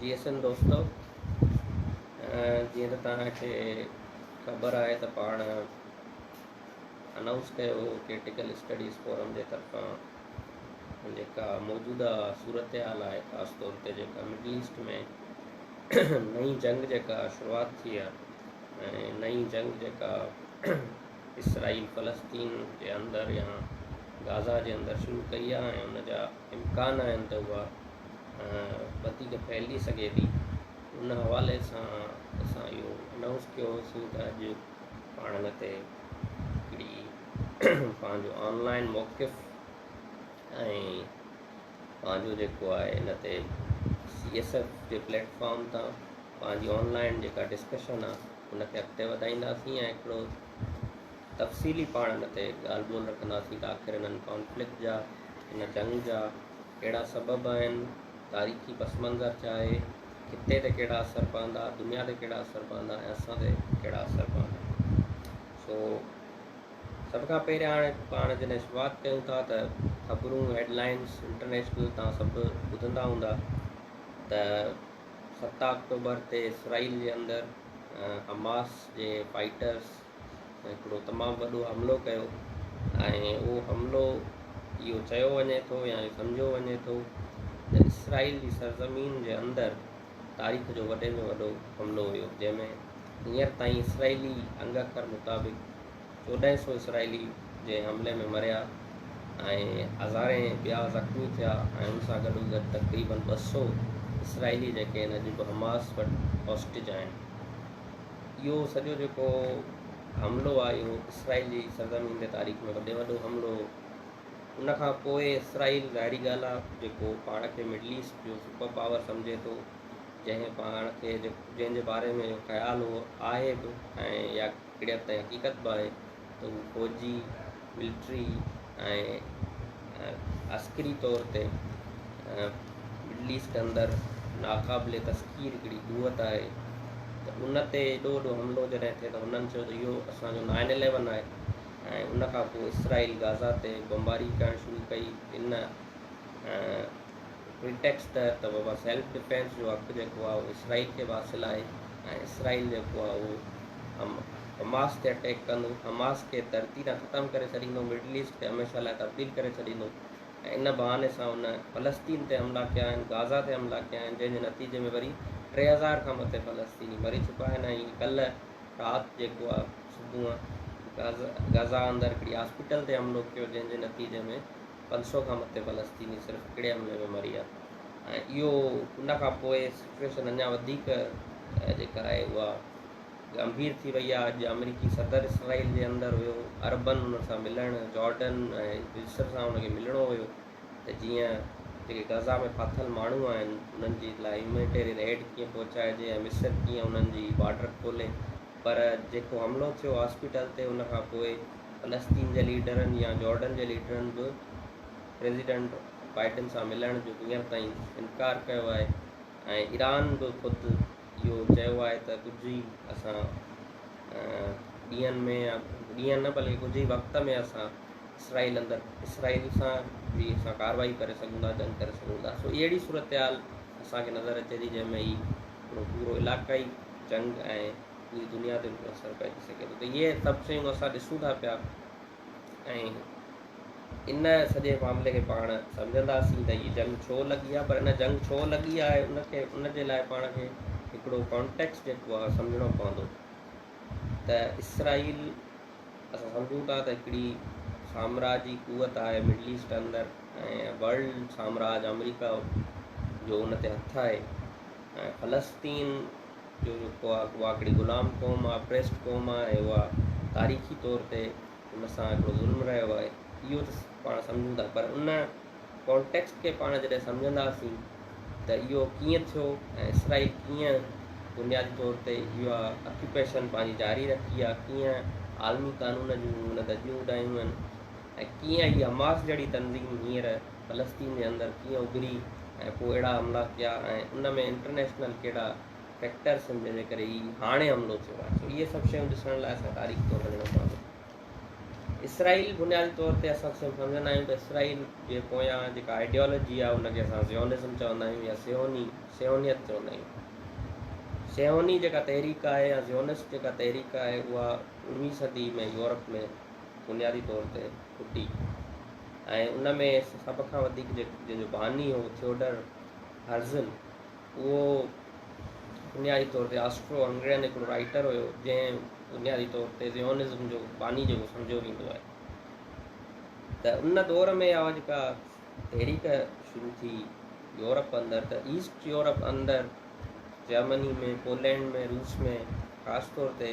جي ايس اين دوستو جيئن ته توهان کي خبر آهي ته پاڻ انائونس ڪيو هو ڪرٽيڪل اسٽڊيز فورم جي طرفان جيڪا موجوده صورتحال آهي خاص طور تي جيڪا مڊل ايسٽ ۾ نئي جنگ جيڪا شروعات ٿي آهي ۽ نئي جنگ جيڪا اسرائيل فلسطين جي اندر يا غازا جي اندر شروع ڪئي آهي ۽ ان جا امڪان آهن ته اها وڌيڪ ڦهلجي سگهي ٿي ان حوالي سان اسان اهو انائونس ڪيو هوسون ته اڄ پاڻ هن تي هڪڙي پنهنجو آنلائن موقف ۽ پنهنجو جيڪو آهي هن تي سي ايس ايف جي پليٽفارم تان پنهنجي آنلائن جيڪا ڊسڪشن آهي ان کي اڳتي وڌائينداسين ۽ هڪڙو تفصيلي پاڻ ان تي ڳالهه ٻولهه رکنداسين ته آخر انهن ڪانفلڪٽ جا، ان جنگ جا، ڪهڙا سبب آهن، تاريخي پس منظر ڇا آهي، خطي تي ڪهڙا اثر پوندا، دنيا تي ڪهڙا اثر پوندا ۽ اسان تي ڪهڙا اثر پوندا. سو سڀ کان پهريان هاڻي پاڻ جڏهن شروعات ڪيون ٿا ته خبرون هيڊ لائنز انٽرنيشنل توهان سڀ ٻڌندا هوندا ته ست آڪٽوبر تي اسرائيل جي اندر حماس جي فائيٽرز هڪڙو تمام وڏو حملو ڪيو ۽ اهو حملو اهو چيو وڃي ٿو يا اهو سمجهيو وڃي ٿو ته اسرائيل جي سرزمين جي اندر تاريخ جو وڏي ۾ وڏو حملو هيو جنهن ۾ هينئر تائين اسرائيلي انگ اکر مطابق چوڏهن سو اسرائيلي جنهن حملي ۾ مريا ۽ هزارين ٻيا زخمي ٿيا ۽ ان سان گڏوگڏ تقريبن ٻه سو اسرائيلي جيڪي هن اڄ به حماس وٽ هاسٽيج آهن. اهو سڄو جيڪو حملو آهي اهو اسرائيل جي سرزمين تي تاريخ ۾ وڏي وڏو حملو هو ان کان پوء اسرائيل ظاهري ڳالهه آهي جيڪو پاڻ کي مڊل ايسٽ جو سپر پاور سمجهي ٿو جنهن پاڻ کي جنهن جي باري ۾ خيال هو آهي به ۽ يا ڪهڙي حد تائين حقيقت به آهي ته هو فوجي، ملٽري ۽ عسڪري طور تي مڊل ايسٽ اندر ناقابل تسخير هڪڙي قوت آهي ته ان تي ايڏو وڏو حملو جڏهن ٿئي ته هنن چيو ته اهو اسان جو نائن اليون آهي ۽ ان کان پوء اسرائيل غازا تي بمباري ڪرڻ شروع ڪئي ان هن ٽيڪسٽ تحت ته وبا سيلف ڊفينس جو حق جيڪو آهي اهو اسرائيل کي به حاصل آهي ۽ اسرائيل جيڪو آهي اهو حماس تي اٽيڪ ڪندو، حماس کي ڌرتي تان ختم ڪري ڇڏيندو، مڊل ايسٽ کي هميشه لاء تبديل ڪري ڇڏيندو ۽ ان بهاني سان هن فلسطين تي حملا ڪيا آهن، غازا تي حملا ڪيا آهن جنهن جي نتيجي ۾ وري ٽي هزار کان مٿي فلسطيني مري چڪا آهن ۽ ڪلهه رات جيڪو آهي صبح غازا اندر هڪڙي هاسپيٽل تي حملو ڪيو جنهن جي نتيجي ۾ پنج سؤ کان مٿي فلسطيني صرف هڪڙي حملي ۾ مري ويا ۽ اهو ان کان پوء سچويشن اڃا وڌيڪ جيڪا آهي اها گنڀير ٿي وئي آهي اڄ آمريڪي صدر اسرائيل جي اندر هيو عربن ان سان ملڻ جارڊن ۽ مصر سان ان کي ملڻو هيو ته جيئن جيڪي غزا ۾ ڦاٿل ماڻهو آهن انهن جي لاء هيومينيٽيرين ايڊ ڪيئن پهچائجي ۽ مصر ڪيئن انهن جي بارڊر کولي پر جيڪو حملو ٿيو هاسپيٽل تي ان کان پوء فلسطين جي ليڊرن يا جارڊن جي ليڊرن به پريزيڊنٽ بائيڊن سان ملڻ جو هينئر تائين انڪار ڪيو آهي ۽ ايران به خود اهو چيو آهي ته ڪجهه ئي اسان ڏينهن ۾ يا ڏينهن نه بلڪه ڪجهه ئي وقت ۾ اسان اسرائيل اندر اسرائيل سان به اسان ڪارروائي ڪري سگهون ٿا جنگ ڪري سگهون ٿا سو اهڙي صورتحال اسان کي نظر اچي ٿي جنهن ۾ هي پورو علاقائي جنگ ۽ پوري دنيا تي به اثر پئجي سگهي ٿو ته اهي سڀ شيون اسان ڏسون ٿا پيا ۽ ان سڄي معاملي کي پاڻ سمجهنداسين ته هي جنگ ڇو لڳي آهي پر ان جنگ ڇو لڳي آهي ان کي ان جي لاء پاڻ کي هڪڙو ڪانٽيڪس جيڪو آهي سمجهڻو پوندو ته اسرائيل اسان سمجهون ٿا ته هڪڙي سامراجي قوت آهي مڊل ايسٽ اندر ۽ ورلڊ سامراج آمريڪا جو ان تي هٿ آهي ۽ فلسطين جو جيڪو آ اها هڪڙي غلام قوم آ اپريسڊ قوم آ ۽ اها تاريخي طور تي ان سان هڪڙو ظلم رهيو آهي اهو ته پاڻ سمجهون ٿا پر ان ڪانٽيڪسٽ کي پاڻ جڏهن سمجهنداسين ته اهو ڪيئن ٿيو ۽ اسرائيل ڪيئن بنيادي طور تي اها اڪيوپيشن پنهنجي جاري رکي آ ڪيئن عالمي قانون جون هن ڌڄيون اڏايون آهن ۽ ڪيئن هي حماس جهڙي تنظيم هينئر فلسطين جي اندر ڪيئن اڀري ۽ پوء اهڙا حملا ڪيا ۽ ان ۾ انٽرنيشنل ڪهڙا فيڪٽرس آهن جنهن جي ڪري هي هاڻي حملو ٿيو آهي سو اهي سڀ شيون ڏسڻ لاء اسان تاريخ طور وڃڻو پوندو اسرائيل بنيادي طور تي اسان سمجهندا آهيون ته اسرائيل جي پويان جيڪا آئيڊيالوجي آهي ان کي اسان زيونزم چوندا آهيون يا سيوني سيونيت چوندا آهيون سيوني جيڪا تحريڪ آهي يا زيونس جيڪا تحريڪ آهي اها اڻويهين صدي ۾ يورپ ۾ بنيادي طور تي ڦٽي ۽ ان ۾ سڀ کان وڌيڪ جنهن جو باني هو ٿيوڊر هرزل اهو بنيادي طور تي آسٽرو هنگرين هڪڙو رائٽر هيو جنهن بنيادي طور تي زيونزم جو باني جيڪو سمجهيو ويندو آهي ته ان دور ۾ اها جيڪا تحريڪ شروع ٿي يورپ اندر ته ايسٽ يورپ اندر جرمني ۾ پولينڊ ۾ روس ۾ خاص طور تي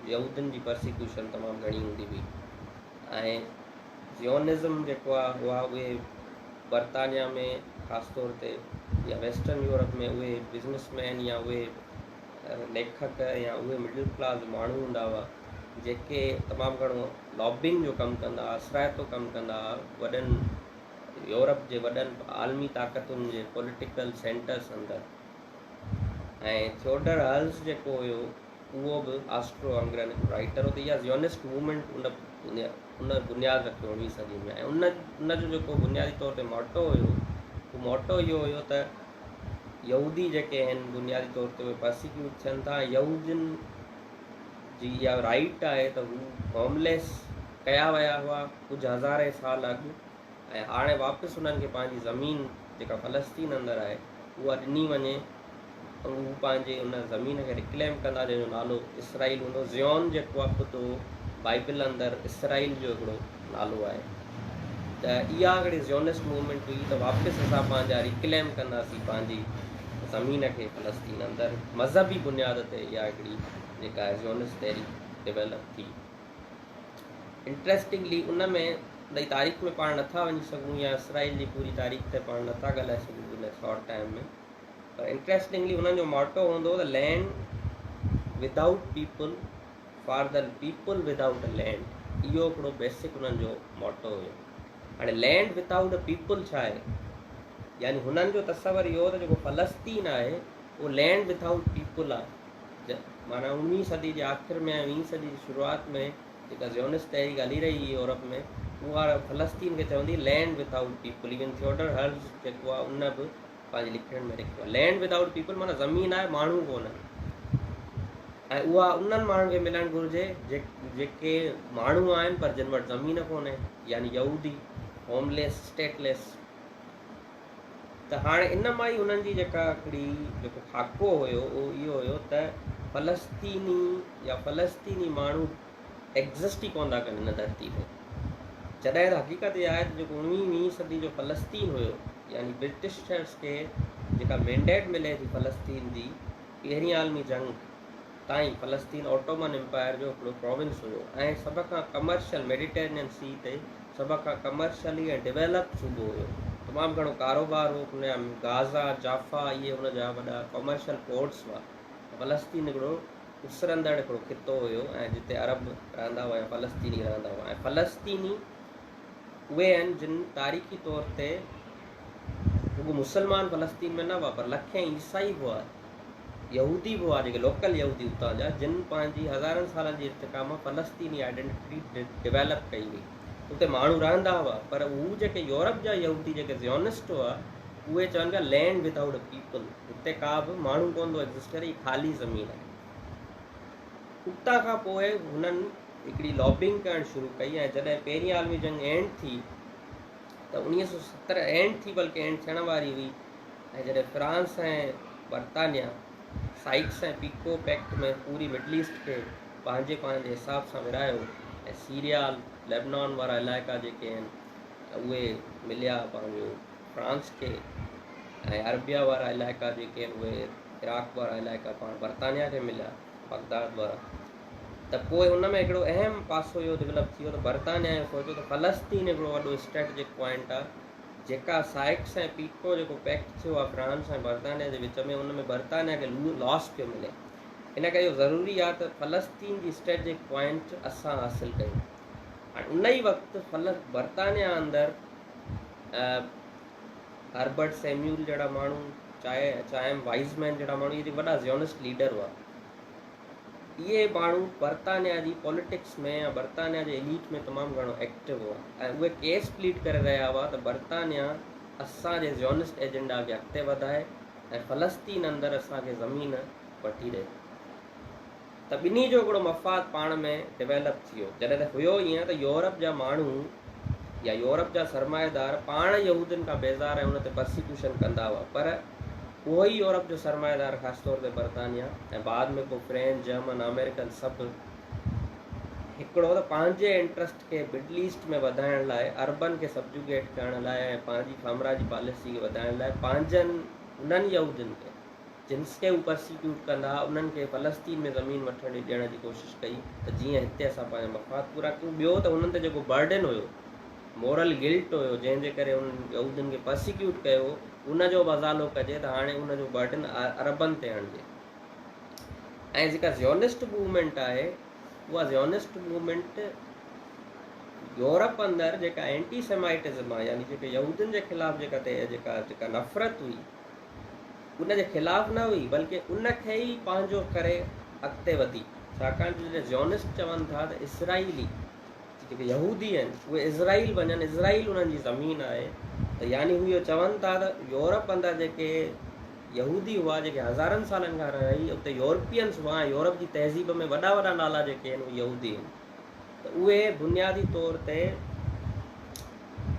يهودين جي پرسيڪيوشن تمام گهڻي هوندي هئي ۽ زيونزم جيڪو آ اها اهي برطانيا ۾ خاص طور تي يا ويسٽرن يورپ ۾ اهي بزنس مين يا اهي ليکڪ يا اهي مڊل ڪلاس ماڻهو هوندا هئا جيڪي تمام گهڻو لابنگ جو ڪم ڪندا هئا اثرائتو ڪم ڪندا هئا وڏن يورپ جي وڏن عالمي طاقتن جي پوليٽيڪل سينٽرس اندر ۽ ٿيوڊر هلز جيڪو هيو اهو به آسٽرو هنگرين رائيٽر هو ته اها زيونسٽ موومينٽ ان ان بنياد رکيو اڻويهين صدي ۾ ۽ ان ان جو جيڪو بنيادي طور تي موٽو هيو اهو موٽو اهو هيو ته يهودي جيڪي آهن بنيادي طور تي اهي پرسيڪيوٽ ٿين ٿا يهودين جي اها رائيٽ آهي ته هو هومليس ڪيا ويا هئا ڪجهه هزارين سال اڳ ۽ هاڻي واپس انهن کي پنهنجي زمين جيڪا فلسطين اندر آهي اها ڏني وڃي ۽ هو پنهنجي ان زمين کي رڪليم ڪندا جنهن جو نالو اسرائيل هوندو زيون جيڪو آهي خود اهو بائبل اندر اسرائيل جو هڪڙو نالو آهي ته اها هڪڙي زيونس موومينٽ هئي ته واپس اسان پنهنجا ريڪليم ڪنداسين پنهنجي زمين کي فلسطين اندر مذهبي بنياد تي اها هڪڙي جيڪا زيونس تحريڪ ڊيولپ ٿي انٽريسٽنگلي ان ۾ ٻئي تاريخ ۾ پاڻ نٿا وڃي سگهون يا اسرائيل جي پوري تاريخ تي پاڻ نٿا ڳالهائي سگهون ان شارٽ ٽائم ۾ پر انٽريسٽنگلي انهن جو ماٽو هوندو ته land without people for the people without a land اهو هڪڙو بيسڪ انهن جو ماٽو هيو هاڻي لينڊ ودائوٽ ا پيپل ڇا آهي يعني هنن جو تصور اهو ته جيڪو فلسطين آهي اهو لينڊ ودائوٽ پيپل آهي معنيٰ اڻويهين صدي جي آخر ۾ ۽ ويهين صدي جي شروعات ۾ جيڪا زيونسٽ تحريڪ هلي رهي هئي يورپ ۾ اها فلسطين کي چوندي هئي land without people even Theodor هرٽز جيڪو آهي ان به پنهنجي لکڻين ۾ لکيو آهي لينڊ وٿ آئوٽ پيپل معنيٰ زمين آهي ماڻهو ڪونهن ۽ اها انهن ماڻهن کي ملڻ گهرجي جيڪي ماڻهو آهن پر جن وٽ زمين ڪونهي يعني يهودي هومليس اسٽيٽليس ته هاڻي ان مان ئي انهن جي جيڪا هڪڙي جيڪو خاڪو هيو اهو اهو هيو ته فلسطيني يا فلسطيني ماڻهو ايگزسٽ ئي ڪونه ٿا ڪن هن ڌرتي تي جڏهن ته حقيقت اها آهي ته جيڪو اڻويهين ويهين صدي جو فلسطين هيو يعني برٽشرس کي جيڪا مينڊيٽ ملي ٿي فلسطين جي پهرين عالمي جنگ تائين فلسطين اوٽومن امپائر جو هڪڙو پراونس هيو ۽ سڀ کان ڪمرشل ميڊيٽرينين سي تي سڀ کان ڪمرشلي ۽ ڊويلپ صوبو هيو. تمام گهڻو ڪاروبار هو ان جا غازا، جافا اهي ان جا وڏا ڪمرشل پورٽس هئا. فلسطين هڪڙو اسرندڙ هڪڙو خطو هيو ۽ جتي عرب رهندا هئا يا فلسطيني رهندا هئا ۽ فلسطيني. اهي آهن جن تاريخي طور تي رڳو مسلمان فلسطين ۾ نه هئا پر لکين عيسائي به هئا يهودي به هئا جيڪي لوڪل يهودي اتان جا جن پنهنجي هزارن سالن جي ارتقا مان فلسطيني آئيڊينٽي ڊيولپ ڪئي هئي اتي ماڻهو رهندا هئا پر هو جيڪي يورپ جا يهودي جيڪي زيونسٽ هئا اهي چون پيا لينڊ وڌ آئوٽ پيپل هتي ڪا به ماڻهو ڪونه ٿو ايگزسٽ ڪري هي خالي زمين آهي اتان کان پوء هنن هڪڙي لابنگ ڪرڻ شروع ڪئي ۽ جڏهن پهرين عالمي جنگ اينڊ ٿي ته اوڻيهه سؤ ستر اينڊ ٿي بلڪه اينڊ ٿيڻ واري هئي ۽ جڏهن فرانس ۽ برطانيا سائيڪس ۽ پيڪو پيڪٽ ۾ پوري مڊل ايسٽ کي پنهنجي پاڻ جي حساب سان ورهايو ۽ سيريا ليبنان وارا علائقا جيڪي آهن اهي مليا پنهنجو فرانس کي ۽ عربيا وارا علائقا جيڪي آهن اهي عراق وارا علائقا پاڻ برطانيا کي مليا بغداد وارا ته پوء ان ۾ هڪڙو اهم پاسو اهو ڊولپ ٿي ويو ته برطانيا اهو سوچيو ته فلسطين هڪڙو وڏو اسٽريٽجڪ پوائنٽ آهي جيڪا سائڪس ۽ پيڪٽو جيڪو پيڪٽ ٿيو آهي فرانس ۽ برطانيا جي وچ ۾ ان ۾ برطانيا کي لاس پيو ملي ان ڪري اهو ضروري آهي ته فلسطين جي اسٽريٽجڪ پوائنٽ اسان حاصل ڪيون هاڻي ان ئي وقت برطانيا اندر هربرٽ سيميول جهڙا ماڻهو، چائم وائيز مين جهڙا ماڻهو اهي وڏا زيونسٽ ليڊر هئا. اهي ماڻهو برطانيا جي پوليٽڪس ۾ يا برطانيا جي اليٽ ۾ تمام گهڻو ايڪٽو هئا ۽ اهي ڪيس پليڊ ڪري رهيا هئا ته برطانيا اسان جي زيونسٽ ايجنڊا کي اڳتي وڌائي ۽ فلسطين اندر اسان کي زمين وٺي ڏئي. ته ٻنهي جو هڪڙو مفاد پاڻ ۾ ڊويلپ ٿيو. جڏهن ته هيو ائين ته يورپ جا ماڻهو يا يورپ جا سرمائيدار پاڻ يهودين کان بيزار ۽ ان تي پرسيڪيوشن ڪندا هئا پر اهو ئي يورپ جو سرمائيدار خاص طور تي برطانيا ۽ بعد ۾ پوء فرينچ، جرمن، آمريڪن سڀ هڪڙو ته پنهنجي انٽرسٽ کي مڊل ايسٽ ۾ وڌائڻ لاء عربن کي سبجوگيٽ ڪرڻ لاء ۽ پنهنجي سامراجي پاليسي کي وڌائڻ لاء پنهنجن انهن يهودين تي جن سٽي اوپر سي ڪيوٽ ڪندا انهن کي فلسطين ۾ زمين وٺڻ جي ڏيڻ جي ڪوشش ڪئي ته جيئن هتي اسان پنهنجا مفاد پورا ڪيون ٻيو ته هنن تي جيڪو برڊن هيو مورل گلٽ هيو جنهن جي ڪري انهن يهودين کي پرسيڪيوٽ ڪيو ان جو به ازالو ڪجي ته هاڻي ان جو برڊن عربن تي هڻجي ۽ جيڪا زيونسٽ موومينٽ آهي اها زيونسٽ موومينٽ يورپ اندر جيڪا اينٽي سيمائٽزم آهي يعني جيڪا يهودين جي خلاف جيڪا جيڪا جيڪا نفرت هئي ان جي خلاف نه هئي بلڪه ان کي ئي پنهنجو ڪري اڳتي وڌي ڇاڪاڻ جو جڏهن زيونسٽ چون ٿا ته اسرائيلي جيڪي يهودي آهن اهي اسرائيل وڃن اسرائيل انهن جي زمين آهي ته يعني هو اهو چون ٿا ته يورپ اندر جيڪي يهودي هئا جيڪي هزارن سالن کان رهي اتي يورپينس هئا ۽ يورپ جي تهذيب ۾ وڏا وڏا نالا جيڪي آهن اهي يهودي آهن ته اهي بنيادي طور تي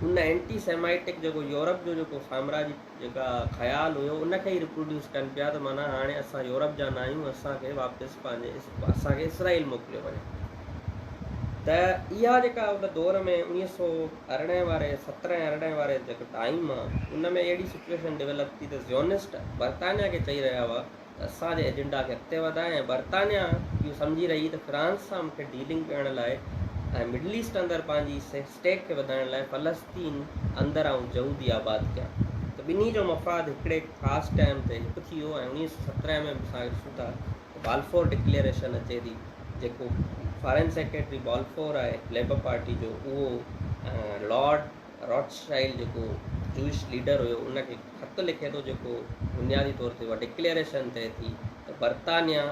ان اينٽي سيمائيٽڪ جيڪو يورپ جو جيڪو سامراجي جيڪا خيال هيو ان کي ئي ريپروڊيوس ڪن پيا ته معنيٰ هاڻي اسان يورپ جا ناهيون اسان کي واپس پنهنجي اسان کي اسرائيل موڪليو وڃي ته اها جيڪا ان دور ۾ اڻيهه سو ارڙهن واري سترهن ارڙهن واري جيڪو ٽائيم آهي ان ۾ اهڙي سچويشن ڊيولپ ٿي ته زيونسٽ برطانيا کي چئي رهيا هئا اسان جي ايجنڊا کي اڳتي وڌائي ۽ برطانيا اهو سمجهي رهي ته فرانس سان مون کي ڊيلنگ ڪرڻ لاء ۽ مڊل ايسٽ اندر پنهنجي اسٽيڪ کي وڌائڻ لاء فلسطين اندر آئون جهودي آباد ڪيان ته ٻنهي جو مفاد هڪڙي خاص ٽائيم تي هڪ ٿي ويو ۽ اوڻيهه سؤ سترهن ۾ به اسان کي ڏسون ٿا ته بالفور ڊڪليئريشن اچي ٿي جيڪو فارين سيڪريٽري بالفور آهي ليبر پارٽي جو اهو لارڊ راٿشائلڊ جيڪو جوئش ليڊر هيو ان کي خط لکي ٿو جيڪو بنيادي طور تي اها ڊڪليئريشن ٿئي ٿي ته برطانيا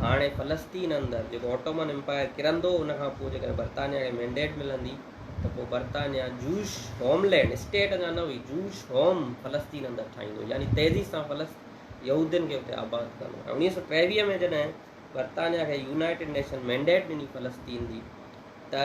هاڻي فلسطين اندر جيڪو اوٽومن امپائر ڪرندو ان کان پوء جيڪڏهن برطانيا کي مينڊيٽ ملندي ته پوء برطانيا جوئش هوم لينڊ اسٽيٽ اڃا نه هئي جوئش هوم فلسطين اندر ٺاهيندو يعني تيزي سان فلس يهودين کي اتي آباد ڪندو ۽ اڻويهه سؤ ٽيويهه ۾ جڏهن برطانيا کي يونائيٽيڊ نيشن مينڊيٽ ڏني فلسطين جي ته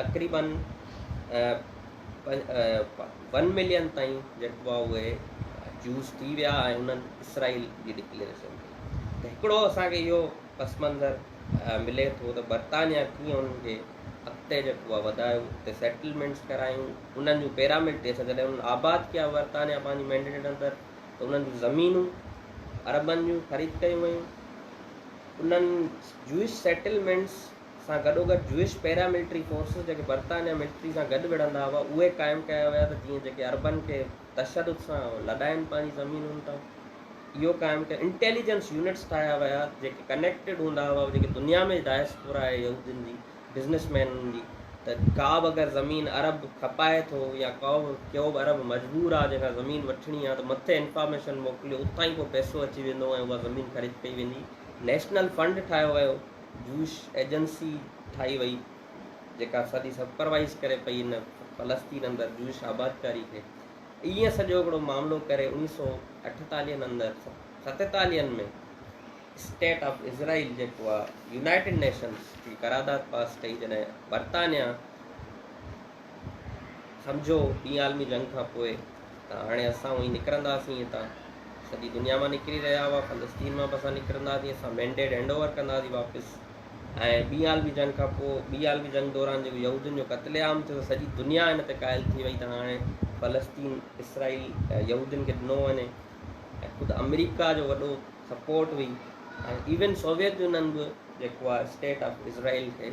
تقريبن ون ملين تائين جيڪو آهي اهي جوز ٿي ويا ۽ انهن اسرائيل جي ڊڪليئريشن ڪئي ته هڪڙو اسان کي اهو پس منظر ملي ٿو ته برطانيا ڪيئن انهن کي اڳتي جيڪو آهي وڌايو اتي سيٽلمينٽس ڪرايون انهن جون پيرامڊ تي اسان جڏهن انهن آباد ڪيا برطانيا پنهنجي مينڊيٽ اندر ته انهن جون زمينون عربن جون خريد ڪيون ويون انهن جوئش سيٽلمينٽس سان گڏوگڏ جوئش پيرا ملٽري فورسز جيڪي برطانيا ملٽري سان گڏ وڙهندا هئا اهي قائم ڪيا ويا ته جيئن جيڪي عربن کي تشدد سان لڏائين پنهنجي زمينن تان اهو قائم ڪيو انٽيليجنس يونٽس ٺاهيا ويا جيڪي ڪنيڪٽيڊ هوندا هئا جيڪي دنيا ۾ ڊائسپورا آهي يهودين جي بزنس مينن جي ته ڪابه اگر زمين عرب کپائي ٿو يا ڪابه ڪيوبه عرب مجبور آهي جنهن کان زمين وٺڻي آهي ته مٿي انفارميشن موڪليو اتان ئي پوء پئسو اچي ويندو ۽ اها زمين خريد ڪئي ويندي نيشنل فنڊ ٺاهيو ويو جوش ايجنسي ٺاهي وئي جيڪا سڄي سپروائيز ڪري پئي ان فلسطين اندر جوش آبادڪاري کي ائين سڄو هڪڙو معاملو ڪري انيس سو اٺيتاليهن اندر ستيتاليهن ۾ اسٽيٽ آف اسرائيل جيڪو آهي يونائيٽيڊ نيشنز جي قرارداد پاس ڪئي جڏهن برطانيا سمجهو ٻي عالمي جنگ کان پوء ته هاڻي اسان اونهي نڪرنداسين هتان، سڄي دنيا مان نڪري رهيا هئا، فلسطين مان به اسان نڪرنداسين، اسان مينڊيٽ هينڊ اوور ڪنداسين واپس ۽ ٻي عالمي جنگ کان پوء ٻي عالمي جنگ دوران جيڪو يهودين جو قتل عام ٿيو سڄي دنيا ان تي قائل ٿي وئي ته هاڻي فلسطين اسرائيل يهودين کي ڏنو وڃي ۽ خود آمريڪا جو وڏو سپورٽ هئي ۽ ايون سوويت يونين به جيڪو آهي اسٽيٽ آف اسرائيل کي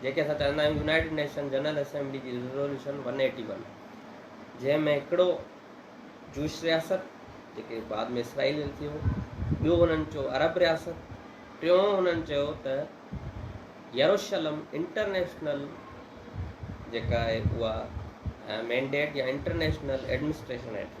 جنهن کي اسان چوندا آهيون يونائيٽيڊ نيشن جنرل اسيمبلي جي ريزولوشن ون ايٽي ون جنهن ۾ هڪڙو جوش رياست جيڪي بعد ۾ اسرائيل ۾ ٿيو ٻيو هنن چيو عرب رياست ٽيون هنن چيو ته يروشلم انٽرنيشنل جيڪا آهي اها مينڊيٽ يا انٽرنيشنل ايڊمنسٽريشن هيٺ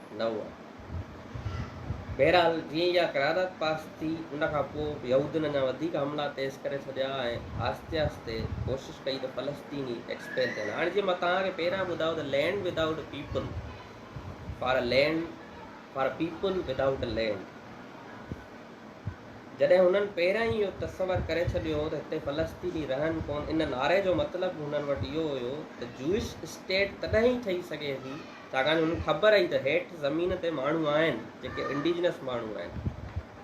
نه هئا. بهرحال جيئن ئي اها قرارداد پاس ٿي ان کان پوء يهودين اڃا وڌيڪ حملا تيز ڪري ڇڏيا ۽ آهستي آهستي ڪوشش ڪئي ته فلسطيني ايڪسپيل ٿين. هاڻ جيئن مان توهان کي پهريان ٻڌايو ته land without people for a land for a people without a land جڏهن هنن پهريان ئي اهو تصور ڪري ڇڏيو هو ته هتي فلسطيني رهن ڪون ان نعري جو مطلب هنن وٽ اهو هيو ته جوئش اسٽيٽ تڏهن ئي ٺهي سگهي ٿي ڇاڪاڻ جو هن کي خبر هئي ته هيٺ زمين تي ماڻهو آهن جيڪي انڊيجنس ماڻهو آهن.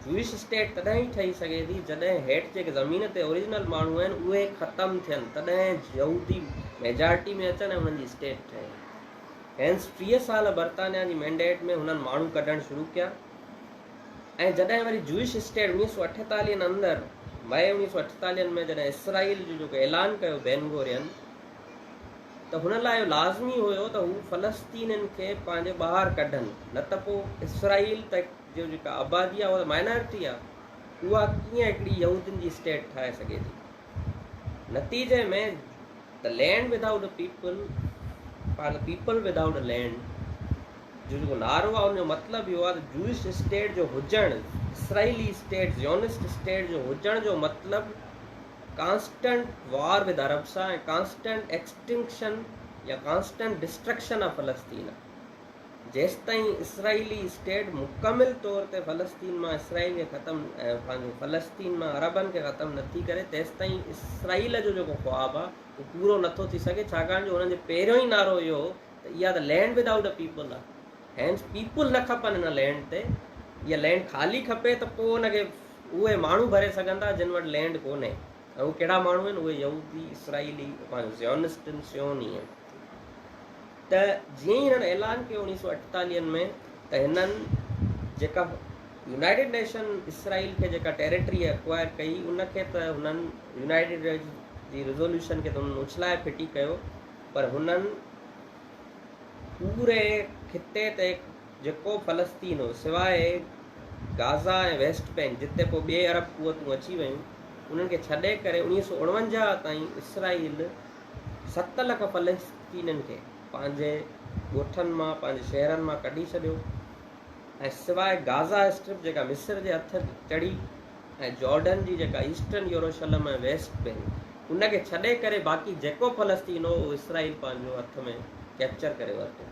جوئش اسٽيٽ تڏهن ئي ٺهي سگهي ٿي جڏهن هيٺ جيڪي زمين تي اوريجنل ماڻهو آهن اهي ختم ٿين تڏهن يهودي ميجارٽي ۾ اچن ۽ انهن جي اسٽيٽ ٺهي. هينس ٽيهه سال برطانيا جي مينڊيٽ ۾ هنن ماڻهو ڪڍڻ شروع ڪيا ۽ جڏهن وري جوئش اسٽيٽ اڻويهه سؤ اٺيتاليهن اندر مئي اڻويهه سؤ اٺيتاليهن ۾ جڏهن اسرائيل جو جيڪو اعلان ڪيو بين گورين ته هن لاء اهو لازمي هيو ته هو فلسطينين کي پنهنجي ٻاهر ڪڍن نه ته پوء اسرائيل تي جو جيڪا آبادي آهي اها ته مائنارٽي آهي اها ڪيئن هڪڙي يهودين جي اسٽيٽ ٺاهي سگهي ٿي نتيجي ۾ ته لينڊ ود آئوٽ پيپل پنهنجو پيپل ود آئوٽ لينڊ جو جيڪو نعرو آهي ان جو مطلب اهو آهي ته جوئش اسٽيٽ جو هجڻ اسرائيلي اسٽيٽ زيونسٽ اسٽيٽ جو هجڻ جو مطلب ڪانسٽنٽ وار وڌ عربسا ۽ ڪانسٽنٽ ايڪسٽنڪشن يا ڪانسٽنٽ ڊسٽرڪشن آف فلسطين جيستائين اسرائيلي اسٽيٽ مڪمل طور تي فلسطين مان اسرائيل کي ختم پنهنجو فلسطين مان عربن کي ختم نٿي ڪري تيستائين اسرائيل جو جيڪو خواب آ اهو پورو نٿو ٿي سگهي ڇاڪاڻ جو هنن جو پهريون ئي نعرو اهو هو ته اها ته land without a people آ هينس پيپل نه کپن هن لينڊ تي اها لينڊ خالي کپي ته پوء ان کي اهي ماڻهو ڀري سگهن ٿا جن وٽ لينڊ ڪونهي ۽ اهي ڪهڙا ماڻهو آهن اهي يهودي اسرائيلي پنهنجو زيونسٽ آهن صيوني آهن ته جيئن ئي هنن اعلان ڪيو اوڻيهه سو اٺيتاليهن ۾ ته هنن جيڪا يونائيٽيڊ نيشن اسرائيل کي جيڪا ٽيريٽري اڪوائر ڪئي ان کي ته هنن يونائيٽيڊ جي ريزولوشن کي ته هنن اڇلائي ڦٽي ڪيو پر هنن پوري خطي تي جيڪو فلسطين هو، سواء غازا ۽ ويسٽ بئنڪ جتي پوء ٻي عرب قوتون اچي ويون، انهن کي ڇڏي ڪري اڻويهه سؤ اڻونجاهه تائين اسرائيل ست لک فلسطينين کي پنهنجي ڳوٺن مان پنهنجي شهرن مان ڪڍي ڇڏيو ۽ سواء غازا اسٽرپ جيڪا مصر جي هٿ چڙهي ۽ جارڊن جي جيڪا ايسٽرن يروشلم ۽ ويسٽ بئنڪ ان کي ڇڏي ڪري باقي جيڪو فلسطين هو اهو اسرائيل پنهنجو هٿ ۾ ڪيپچر ڪري ورتو.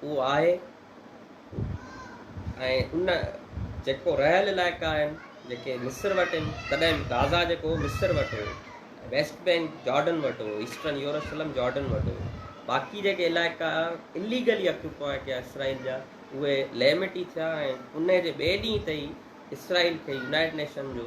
اهو آهي ۽ ان جيڪو رهيل علائقا آهن جيڪي مصر وٽ آهن تڏهن غازا جيڪو مصر وٽ هو ويسٽ بينڪ جارڊن وٽ هو ايسٽرن يوروسلم جارڊن وٽ هو باقي جيڪي علائقا اليگلي اڪيوپائي ڪيا اسرائيل جا اهي ليمٽي ٿيا ۽ ان جي ٻئي ڏينهن تي ئي اسرائيل کي يونائيٽ نيشن جو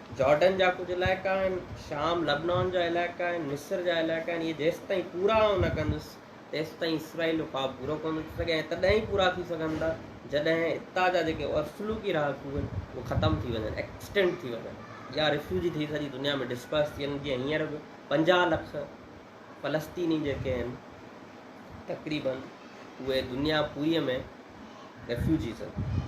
جارڊن جا ڪجهه علائقا آهن، شام، لبنان جا علائقا آهن، مصر جا علائقا آهن، اهي جيستائين پورا آئون نه ڪندس، تيستائين اسرائيل جو خواب پورو ڪونه ٿي سگهي ۽ تڏهن ئي پورا ٿي سگهن ٿا، جڏهن اتان جا جيڪي اصلوڪي رهاڪو آهن، اهي ختم ٿي وڃن، Extinct، ٿي وڃن يا ريفيوجي ٿي سڄي دنيا ۾ Disperse ٿي وڃن، جيئن هينئر به پنجاهه لک فلسطيني جيڪي آهن، تقريبن اهي دنيا پوريء ۾ Refugees آهن.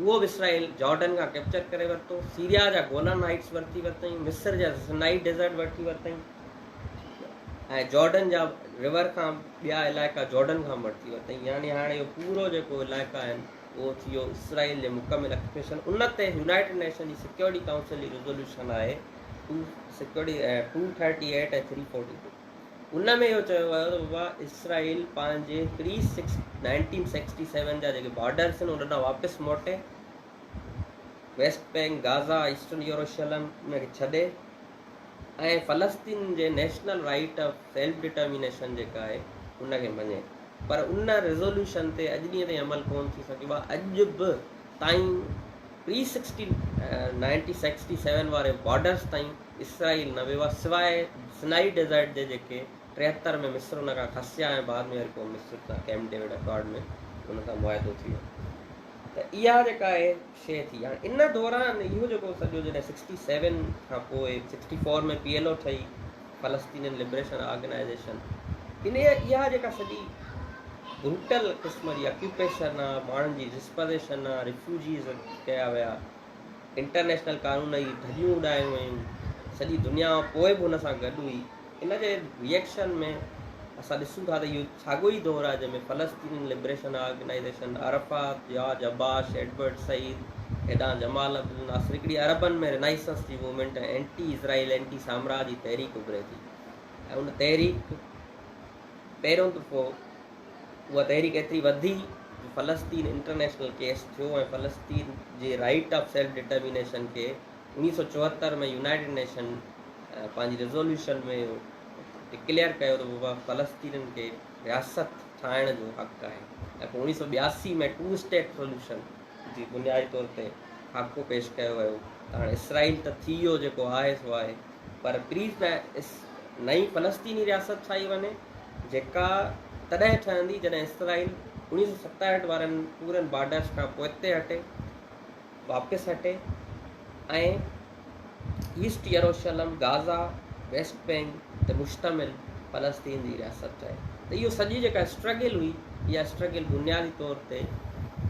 اهو اسرائيل جارڊن کان ڪئپچر ڪري ورتو، سيريا جا گولان هائيٽس ورتي ورتائين، مصر جا سنائي ڊيزرٽ ورتي ورتائين ۽ جارڊن جا ريور کان ٻيا علائقا جارڊن کان به ورتي ورتائين يعني هاڻي اهو پورو جيڪو علائقا آهن اهو ٿي ويو اسرائيل جي مڪمل اڪيوپيشن ان تي يونائيٽيڊ نيشن جي سيڪيورٽي ڪائونسل جي ريزوليوشن آهي two security two thirty eight ۽ three forty two ان ۾ اهو چيو ويو ته بابا اسرائيل پنهنجي pre six nineteen sixty seven جا جيڪي بارڊرز آهن ان ڏانهن واپس موٽي ويسٽ بئنڪ غازا ايسٽرن يوروشلم ان کي ڇڏي ۽ فلسطين جي national right of self determination جيڪا آهي ان کي مڃي پر ان ريزولوشن تي اڄ ڏينهن تائين عمل ڪون ٿي سگهيو آهي اڄ به تائين pre sixty nineteen sixty seven واري بارڊرز تائين اسرائيل نه ويو آهي سواء سنائي ڊيزرٽ جي جيڪي ٽيهتر ۾ مصر ان کان کسيا ۽ بعد ۾ وري پوء مصر سان ڪيمپ ڊيوڊ اڪارڊ ۾ ان سان معاهدو ٿي ويو ته اها جيڪا آهي شيء ٿي هاڻي ان دوران اهو جيڪو سڄو جڏهن سڪسٽي سيون کان پوء sixty four ۾ P L O ٺهي فلسطينين لبريشن آرگنائيزيشن ان اها جيڪا سڄي بروٽل قسم جي اڪيوپيشن آ ماڻهن جي ڊسپوزيشن آ ريفيوجيز ڪيا ويا انٽرنيشنل قانون جي ڌڄيون اڏايون ويون، سڄي دنيا پوء به ان سان گڏ هئي، ان جي ري ايڪشن ۾ اسان ڏسون ٿا ته اهو ساڳيو ئي دور آهي جنهن ۾ فلسطين liberation organisation, Arafat, George Habash, Edward Said, ايڊان جمال عبد الناصر هڪڙي عربن ۾ رينائسنس جي موومينٽ ۽ اينٽي اسرائيل اينٽي سامراج جي تحريڪ اڀري ٿي ۽ ان تحريڪ پيرون دفعو اها تحريڪ ايتري وڌي جو فلسطين انٽرنيشنل ڪيس ٿيو ۽ فلسطين جي رائيٽ آف سيلف ڊٽرمينيشن کي اڻيهه سؤ چوهتر ۾ يونائيٽيڊ نيشن پنهنجي ريزوليوشن ۾ ڊڪليئر ڪيو ته بابا فلسطينين کي رياست ٺاهڻ جو حق آهي ۽ پوء اڻيهه سؤ ٻياسي ۾ ٽو اسٽيٽ سوليوشن جي بنيادي طور تي خاڪو پيش ڪيو ويو ته هاڻي اسرائيل ته ٿي ويو جيڪو آهي سو آهي پر پليز ته نئين فلسطيني رياست ٺاهي وڃي جيڪا تڏهن ٺهندي جڏهن اسرائيل اوڻيهه سؤ ستاهٺ وارن پورن بارڊرس کان پوئتي هٽي واپس هٽي ۽ East Jerusalem, Gaza, West Bank تي مشتمل فلسطين جي رياست چئي ته اهو سڄي جيڪا اسٽرگل هئي اها اسٽرگل بنيادي طور تي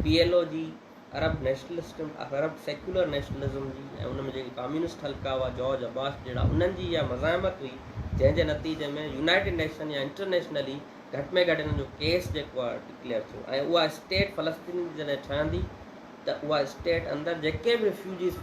پي ايل او جي Arab nationalism Arab secular nationalism جي ۽ ان ۾ جيڪي ڪاميونسٽ حلقا هئا جارج عباس جهڙا انهن جي اها مزاحمت هئي جنهن جي نتيجي ۾ يونائٽيڊ نيشن يا انٽرنيشنلي گهٽ ۾ گهٽ انهن جو ڪيس جيڪو آهي ڊڪليئر ٿيو ۽ اها اسٽيٽ فلسطين جي جڏهن ٺهندي ته اها اسٽيٽ اندر جيڪي به ريفيوجيز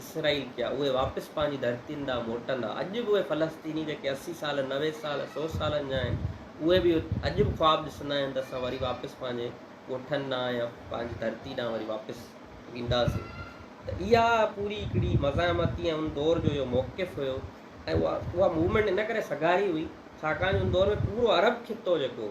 اسرائيل جا اهي واپس پنهنجي ڌرتين ڏانهن موٽندا اڄ به اهي فلسطيني جيڪي اسي سال نوي سال سو سالن جا آهن اهي به اڄ به خواب ڏسندا آهن ته اسان وري واپس پنهنجي ڳوٺن ڏانهن يا پنهنجي ڌرتي ڏانهن وري واپس وينداسين ته اها پوري هڪڙي مزاحمتي ۽ ان دور جو اهو موقف هيو ۽ اها موومينٽ ان ڪري سگهاري هئي ڇاڪاڻ جو ان دور ۾ پورو عرب خطو جيڪو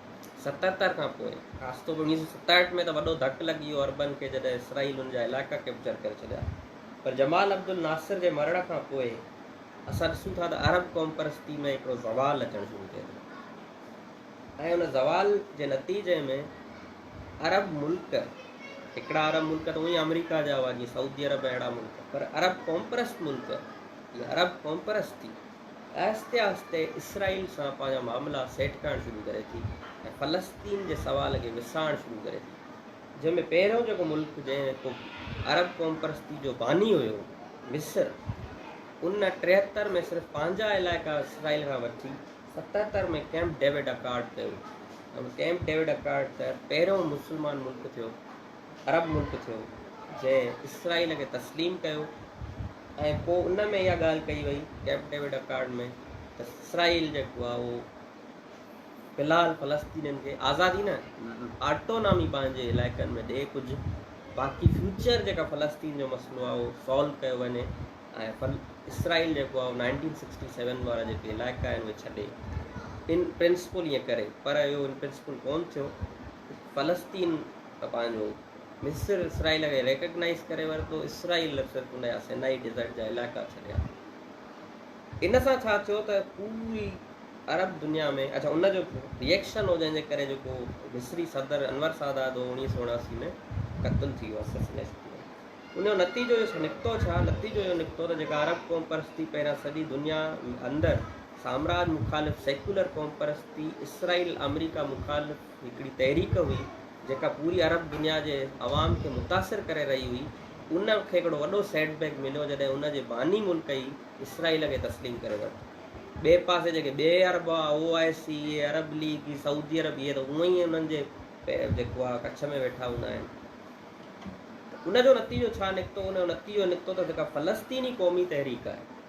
ستهتر کان پوء خاص طور انويهه سؤ ستهٺ ۾ ته وڏو ڌڪ لڳي ويو عربن کي جڏهن اسرائيل ان جا علائقا ڪئپچر ڪري ڇڏيا پر جمال عبدالناصر جي مرڻ کان پوء اسان ڏسون ٿا ته عرب قومپرستي ۾ هڪڙو زوال اچڻ شروع ٿئي ٿو ۽ ان زوال جي نتيجي ۾ عرب ملڪ هڪڙا عرب ملڪ ته اونئي آمريڪا جا هئا جيئن سعودي عرب اهڙا ملڪ پر عرب قومپرست ملڪ يا عرب قومپرستي آهستي آهستي اسرائيل سان پنهنجا معاملا سيٽ ڪرڻ شروع ڪري ٿي ۽ فلسطين جي سوال کي وسائڻ شروع ڪري ٿي جنهن ۾ پهريون جيڪو ملڪ جيڪو عرب قومپرستي جو باني هيو مصر ان ٽيهتر ۾ صرف پنهنجا علائقا اسرائيل کان وٺي ستهتر ۾ ڪئمپ ڊيوڊ اڪارڊ ڪيو ۽ ان ڪئمپ ڊيوڊ اڪارڊ تحت پهريون مسلمان ملڪ ٿيو عرب ملڪ ٿيو جنهن اسرائيل کي تسليم ڪيو ۽ پوء ان ۾ اها ڳالهه ڪئي وئي ڪئمپ ڊيوڊ اڪارڊ ۾ ته اسرائيل جيڪو آهي اهو في الحال فلسطينين کي آزادي نه آٽونامي پنهنجي علائقن ۾ ڏئي ڪجهه باقي فيوچر جيڪا فلسطين جو مسئلو آهي اهو سالو ڪيو وڃي ۽ اسرائيل جيڪو آهي نائنٽين سڪسٽي سيون وارا جيڪي علائقا آهن اهي ڇڏي ان پرنسپل ائين ڪري پر اهو ان پرنسپل ڪون ٿيو فلسطين ته پنهنجو، مصر اسرائيل کي ريڪگنائيز ڪري ورتو، اسرائيل نه صرف ان جا سينائي ڊيزرٽ جا علائقا ڇڏيا. ان سان ڇا ٿيو ته پوري عرب دنيا ۾ اڇا ان جو ريئيڪشن هو جنهن جي ڪري جيڪو مصري صدر انور سادات هو اوڻيهه سو اڻاسي ۾ قتل ٿي ويو اسسنيشن ٿي ويو ان جو نتيجو اهو نڪتو ڇا نتيجو اهو نڪتو ته جيڪا عرب قوم پرستي پهريان سڄي دنيا اندر سامراج مخالف سيڪولر قوم پرستي اسرائيل آمريڪا مخالف هڪڙي تحريڪ هئي جيڪا پوري عرب دنيا جي عوام کي متاثر ڪري رهي هئي ان کي هڪڙو وڏو سيٽ بيڪ مليو جڏهن ان جي باني ملڪ ئي اسرائيل کي تسليم ڪري ورتو ٻئي پاسي جيڪي ٻئي عرب هئا او آء سي اي عرب ليگ هي سعودي عرب اهي ته اونئن ئي انهن جي جيڪو آهي ڪڇ ۾ ويٺا هوندا آهن ان جو نتيجو ڇا نڪتو ان جو نتيجو نڪتو ته جيڪا فلسطيني قومي تحريڪ آهي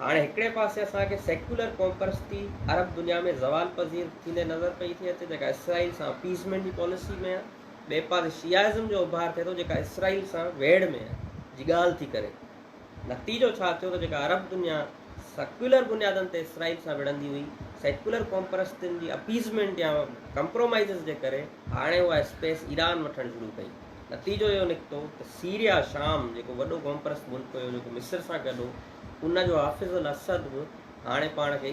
هاڻي هڪڙي پاسي اسان کي سيڪيولر قومپرستي عرب دنيا ۾ زوال پذير ٿيندي نظر پئي ٿي اچي جيڪا اسرائيل سان اپيزمينٽ جي پاليسي ۾ آهي، ٻئي پاسي شيعائزم جو اڀار ٿئي ٿو جيڪا اسرائيل سان ويڙهه ۾ آهي، جي ڳالهه ٿي ڪري. نتيجو ڇا ٿيو ته جيڪا عرب دنيا سيڪيولر بنيادن تي اسرائيل سان وڙهندي هئي، سيڪيولر قومپرستن جي اپيزمينٽ يا ڪمپرومائيزز جي ڪري هاڻي اها اسپيس ايران وٺڻ شروع ڪئي. نتيجو اهو نڪتو ته سيريا، شام، جيڪو وڏو قومپرست ملڪ هيو جيڪو مصر سان گڏ هو، ان جو حافظ الاسد به هاڻي پاڻ کي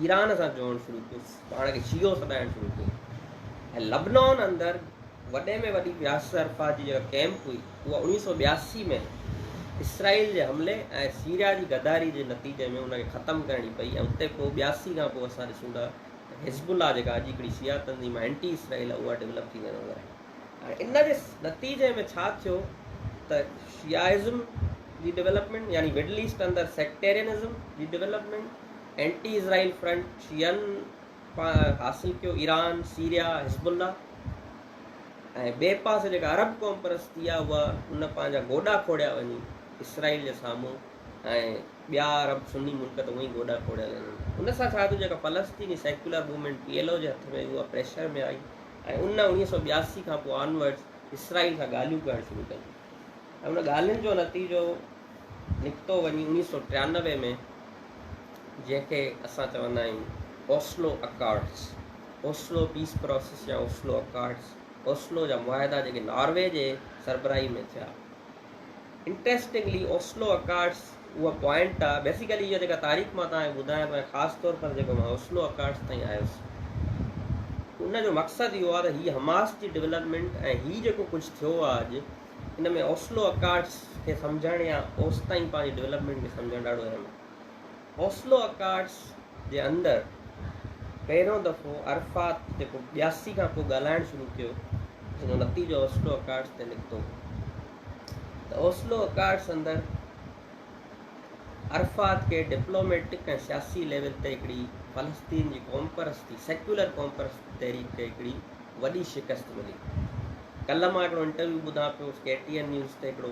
ايران سان جوڙڻ شروع ڪيو، پاڻ کي شيعو سڏائڻ شروع ڪيو ۽ لبنان اندر وڏي ۾ وڏي ياسر عرفات جي جيڪا ڪئمپ هئي اها اوڻيهه سؤ ٻياسي ۾ اسرائيل جي حملي ۽ سيريا جي غداري جي نتيجي ۾ ان کي ختم ڪرڻي پئي ۽ اتي پوء ٻياسي کان پوء اسان ڏسون ٿا ته حزب الله جيڪا اڄ هڪڙي شيعا تنظيم آهي، اينٽي اسرائيل آهي، اها ڊولپ ٿيندي نظر آئي. ۽ ان جي نتيجي ۾ ڇا ٿيو ته شيعائزم جي ڊولپمينٽ يعني مڊل ايسٽ اندر سيڪٽيرينزم جي ڊولپمينٽ، اينٽي اسرائيل فرنٽ شيعن حاصل ڪيو، ايران، سيريا، حزب الله ۽ ٻئي پاسي جيڪا عرب قوم پرستي آهي اها ان پنهنجا گوڏا کوڙيا وڃي اسرائيل جي سامهون ۽ ٻيا عرب سني ملڪ ته اونئي گوڏا کوڙيل آهن ان سان ڇا ٿيو جيڪا فلسطيني secular movement P L O جي هٿ ۾ اها پريشر ۾ آئي ۽ ان اوڻيهه سؤ ٻياسي کان پوء آن ورڊز اسرائيل سان ڳالهيون ڪرڻ شروع ڪيون ۽ ان ڳالهين جو نتيجو نڪتو وڃي اوڻيهه سؤ ٽيانوي ۾ جنهن کي اسان چوندا آهيون Oslo accords Oslo peace process يا اوسلو اڪارڊس اوسلو جا معاهدا جيڪي ناروي جي سربراهي ۾ ٿيا انٽريسٽنگلي اوسلو اڪارڊس اهو پوائنٽ آ بيسيڪلي اها جيڪا تاريخ مان توهان کي ٻڌايان پيو ۽ خاص طور پر جيڪو مان اوسلو اڪارڊس تائين آيس ان جو مقصد اهو آ ته هي حماس جي ڊيولپمينٽ ۽ هي جيڪو ڪجهه ٿيو آ اڄ ان ۾ اوسلو اڪارڊس کي سمجهڻ يا اوستائين پنهنجي ڊيولپمينٽ کي سمجهڻ ڏاڍو اهم آ اوسلو اڪارڊس جي اندر پهريون دفعو عرفات جيڪو ٻياسي کان پوء ڳالهائڻ شروع ڪيو جن جو نتيجو اوسلو اڪارڊس تي نڪتو ته اوسلو اڪارڊس اندر عرفات کي ڊپلوميٽڪ ۽ سياسي ليول تي هڪڙي فلسطين جي قوم پرستي سيڪولر قوم پرست تحريڪ کي هڪڙي وڏي شڪست ملي ڪلهه مان هڪڙو انٽرويو ٻڌان پيو ڪي ٽي اين نيوز تي هڪڙو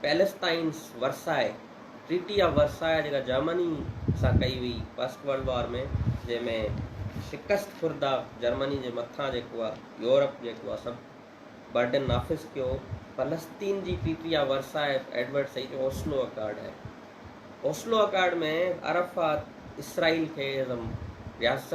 Palestinians Versailles, Treaty of Versailles، جيڪا جرمني سان ڪئي وئي فرسٽ ورلڊ وار ۾ جنهن ۾ شڪست خورده جرمني جي مٿان جيڪو آ يورپ جيڪو آ سڀ برڊن نافذ ڪيو فلسطين جي treaty of Versailles Edward Said جو اوسلو اڪارڊ آهي اوسلو اڪارڊ ۾ عرفات اسرائيل کي رياست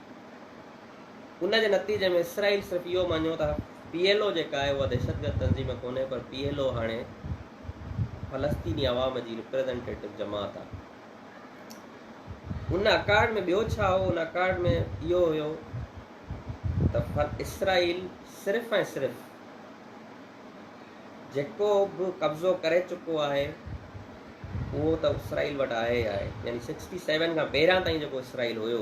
ان جي نتيجي ۾ اسرائيل صرف اهو مڃيو ته پي ايل او جيڪا آهي اها دهشتگرد تنظيم ڪونهي پر پي ايل او هاڻي فلسطيني عوام جي رپريزنٽيٽو جماعت آهي. ان اڪارڊ ۾ ٻيو ڇا هو؟ ان اڪارڊ ۾ اهو هيو ته اسرائيل صرف ۽ صرف جيڪو به قبضو ڪري چڪو آهي اهو ته اسرائيل وٽ آهي آهي يعني سڪسٽي سيون کان پهريان تائين جيڪو اسرائيل هيو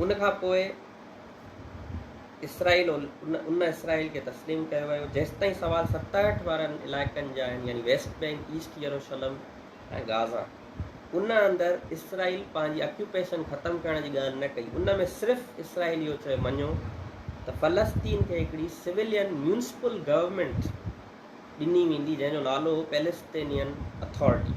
ان کان پوء اسرائيل ان اسرائيل کي تسليم ڪيو ويو جيستائين سوال ستاهٺ وارن علائقن جا آهن يعني West Bank East Jerusalem ۽ Gaza ان اندر اسرائيل پنهنجي اڪيوپيشن ختم ڪرڻ جي ڳالهه نه ڪئي ان ۾ صرف اسرائيل اهو چيو مڃيو ته فلسطين کي هڪڙي سويلين ميونسپل گورنمينٽ ڏني ويندي جنهن جو نالو هو پيلسٽينين اٿارٽي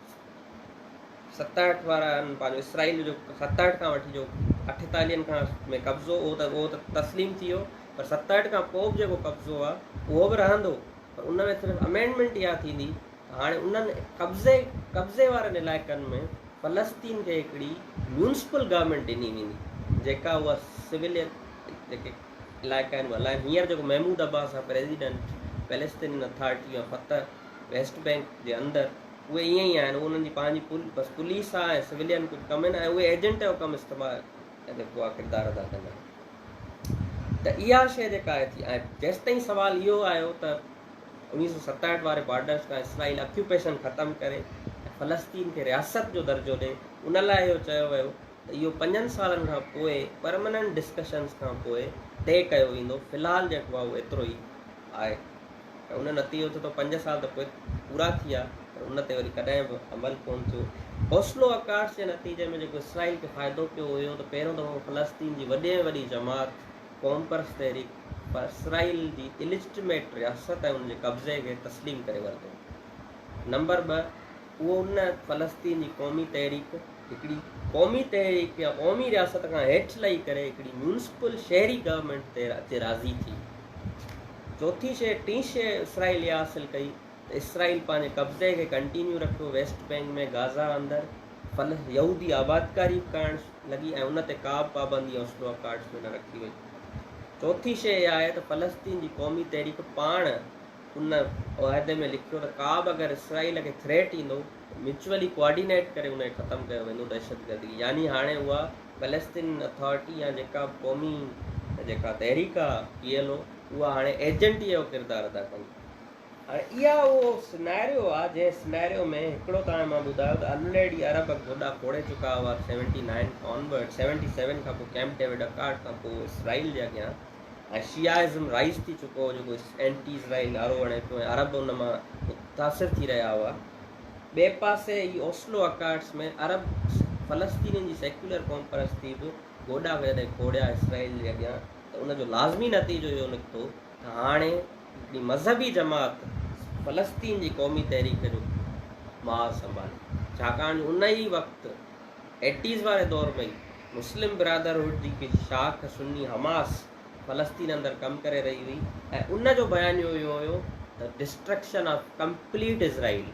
ستاهٺ وارن پنهنجو اسرائيل جو ستاهٺ کان وٺي جو اٺيتاليهن کان ۾ قبضو اهو ته اهو ته تسليم ٿي ويو پر ستاهٺ کان پوء به جيڪو قبضو آهي اهو به رهندو پر ان ۾ صرف امينڊمينٽ اها ٿيندي ته هاڻي انهن قبضي قبضي وارن علائقن ۾ فلسطين کي هڪڙي ميونسپل گورنمينٽ ڏني ويندي جيڪا اها سوليت جيڪي علائقا آهن اها هلائين هينئر جيڪو محمود عباس آهي president Palestinian authority of Fatah West Bank جي اندر اهي ائين ئي آهن اهو انهن جي پنهنجي بس پوليس آهي ۽ سولين ڪجهه ڪم آهن ۽ اهي ايجنٽ جو ڪم استعمال جيڪو آهي ڪردار ادا ڪندا آهن ته اها شيء جيڪا آهي ٿي ۽ جيستائين سوال اهو آيو ته انيس سو ستاهٺ واري بارڊرس کان اسرائيل اڪيوپيشن ختم ڪري ۽ فلسطين کي رياست جو درجو ڏي ان لاء اهو چيو ويو ته اهو پنجن سالن کان پوء پرمننٽ ڊسڪشنس کان پوء طئي ڪيو ويندو في الحال جيڪو آهي اهو ايترو ئي آهي. ته ان نتيجو ٿيو ته پنج سال ته پوء پورا ٿي ويا پر ان تي وري ڪڏهن به عمل ڪونه ٿيو. حوصلو اڪاٽس جي نتيجي ۾ جيڪو اسرائيل کي فائدو پيو اهو اهو ته پهريون دفعو فلسطين جي وڏي ۾ وڏي جماعت قومپرست تحريڪ پر اسرائيل جي اليجٽميٽ رياست ۽ ان جي قبضي کي تسليم ڪري ورتو نمبر ٻه اهو ان فلسطين جي قومي تحريڪ هڪڙي قومي تحريڪ يا قومي رياست کان هيٺ لهي ڪري هڪڙي ميونسپل شهري گورنمينٽ تي اچي راضي ٿي. چوٿين شيء ٽين شيء اسرائيل اها حاصل ڪئي ته اسرائيل پنهنجي قبضي کي ڪنٽينيو رکيو ويسٽ بينڪ ۾ غازا اندر فل يهودي آبادڪاري به ڪرڻ لڳي ۽ ان تي ڪابه پابندي اوسلو اڪارڊز ۾ نه رکي وئي. چوٿين شيء اها آهي ته فلسطين جي قومي تحريڪ پاڻ ان معاهدي ۾ لکيو ته ڪا به اگر اسرائيل کي ٿريٽ ايندو ته ميوچولي ڪوآرڊينيٽ ڪري ان کي ختم ڪيو ويندو دهشتگردي يعني هاڻي اها پليستين اٿارٽي يا جيڪا به قومي جيڪا تحريڪ آهي پي ايل او اها هاڻي ايجنٽ ئي اهو ڪردار ادا ڪن هاڻي اها اهو سنئريو آهي جنهن سنئريو ۾ هڪڙو ته هاڻي مان ٻڌايو ته الريڊي عرب گوڏا کوڙي چڪا هئا seventy nine onward seventy seven کان پوء ڪيمپ ڊيوڊ اڪارڊ کان پوء اسرائيل جي اڳيان ۽ شيعائزم رائج ٿي چڪو هو جيڪو اينٽي اسرائيل نعرو هڻي پيو ۽ عرب ان مان متاثر ٿي رهيا هئا. ٻئي پاسي هي اوسلو اڪارڊز ۾ عرب فلسطينين جي سيڪيولر قوم پرستي به گوڏا پيا ڏئي کوڙيا اسرائيل جي اڳيان ته ان جو لازمي نتيجو اهو نڪتو ته هاڻي هڪڙي مذهبي جماعت فلسطين جي قومي تحريڪ جو ماز سنڀالي ڇاڪاڻ جو ان ئي وقت ايٽيز واري دور ۾ ئي مسلم برادرهوڊ جي هڪ شاخ سني حماس فلسطين اندر ڪم ڪري رهي هئي ۽ ان جو بيانيو اهو هيو ته ڊسٽرڪشن آف ڪمپليٽ اسرائيل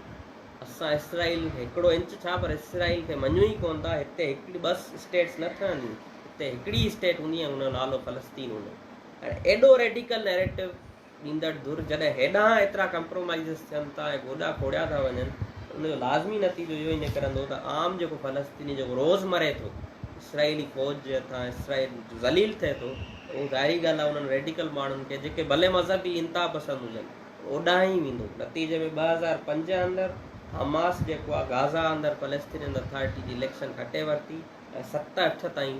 اسان اسرائيل کي هڪڙو انچ ڇا پر اسرائيل کي مڃون ئي ڪونه ٿا هتي هڪڙي ٻه اسٽيٽس نه ٺهنديون هتي هڪڙي ئي اسٽيٽ هوندي ۽ ان جو نالو فلسطين هوندو هاڻي ايڏو ريڊيڪل نيريٽو ڏيندڙ ڌر جڏهن هيڏانهن ايترا ڪمپرومائيزز ٿين ٿا ۽ گوڏا کوڙيا ٿا وڃن ته ان جو لازمي نتيجو اهو ئي نڪرندو ته عام جيڪو فلسطيني جيڪو روز مري ٿو اسرائيلي فوج جي هٿان اسرائيل ذليل ٿئي ٿو ته اهو ظاهري ڳالهه آهي انهن ريڊيڪل ماڻهن کي جيڪي ڀلي مذهبي انتها پسند هجن اوڏانهن ئي ويندو. نتيجي ۾ ٻه هزار پنج اندر حماس جيڪو آهي غازا اندر فلسطينين اٿارٽي جي اليڪشن کٽي ورتي ۽ ست اٺ تائين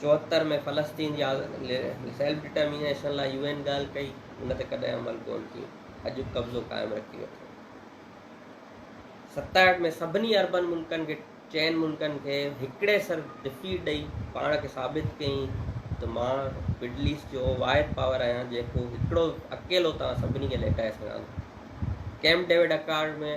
چوهتر ۾ فلسطين جي سيلف ڊٽرمينيشن لاء يو اين ڳالهه ڪئي، ان تي ڪڏهن عمل ڪون ٿيو، اڄ به قبضو قائم رکي ويٺو. ستاهٺ ۾ سڀني عربن ملڪن کي چئن ملڪن کي هڪڙي سر ڊفيٽ ڏئي پاڻ کي ثابت ڪيائين ته مان مڊل ايسٽ جو واحد پاور آهيان جيڪو هڪڙو اڪيلو توهان سڀني کي ليٽائي سگهان ٿو. ڪيمپ ڊيوڊ اڪارڊ ۾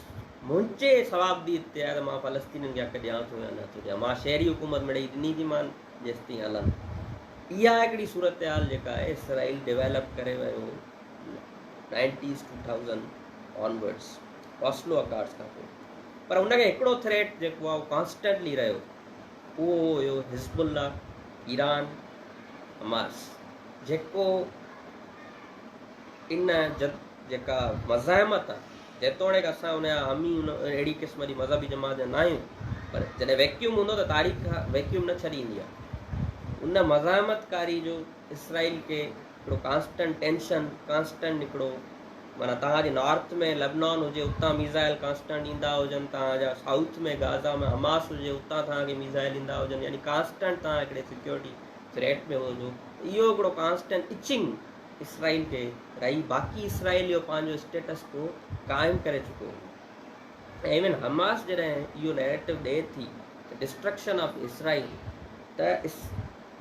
منهنجي صوابديد تي آهي ته مان فلسطينين کي حق ڏيان ٿو يا نه ٿو ڏيان. مان شهري حڪومت مڙئي ڏني ٿي مان جيستائين هلن. اها هڪڙي صورتحال جيڪا آهي اسرائيل ڊيولپ ڪري ويو nineties two thousand onwards Oslo accords کان پوء پر ان کي هڪڙو ٿريٽ جيڪو آهي اهو ڪانسٽنٽلي رهيو اهو هيو حزب الله ايران حماس جيڪو ان جد جيڪا مزاحمت آهي جيتوڻيڪ اسان ان يا هم ئي ان اهڙي قسم جي مذهبي جماعت جا ناهيون پر جڏهن ويڪيوم هوندو ته تاريخ ويڪيوم نه ڇڏيندي آهي. ان مزاحمت ڪاري جو اسرائيل کي هڪڙو ڪانسٽنٽ ٽينشن ڪانسٽنٽ هڪڙو معنيٰ توهان جي نارٿ ۾ لبنان هجي اتان ميزائل ڪانسٽنٽ ايندا هجن توهان جا سائوٿ ۾ غازا ۾ حماس هجي اتان توهان کي ميزائل ايندا هجن يعني ڪانسٽنٽ توهان هڪڙي سيڪيورٽي ٿريٽ ۾ هجو اهو هڪڙو ڪانسٽنٽ اچنگ اسرائيل کي رهي باقي اسرائيل اهو پنهنجو اسٽيٽس ڪو قائم ڪري چڪو هو ۽ ايون حماس جڏهن اهو نيريٽو ڏئي ٿي ته ڊسٽرڪشن آف اسرائيل ته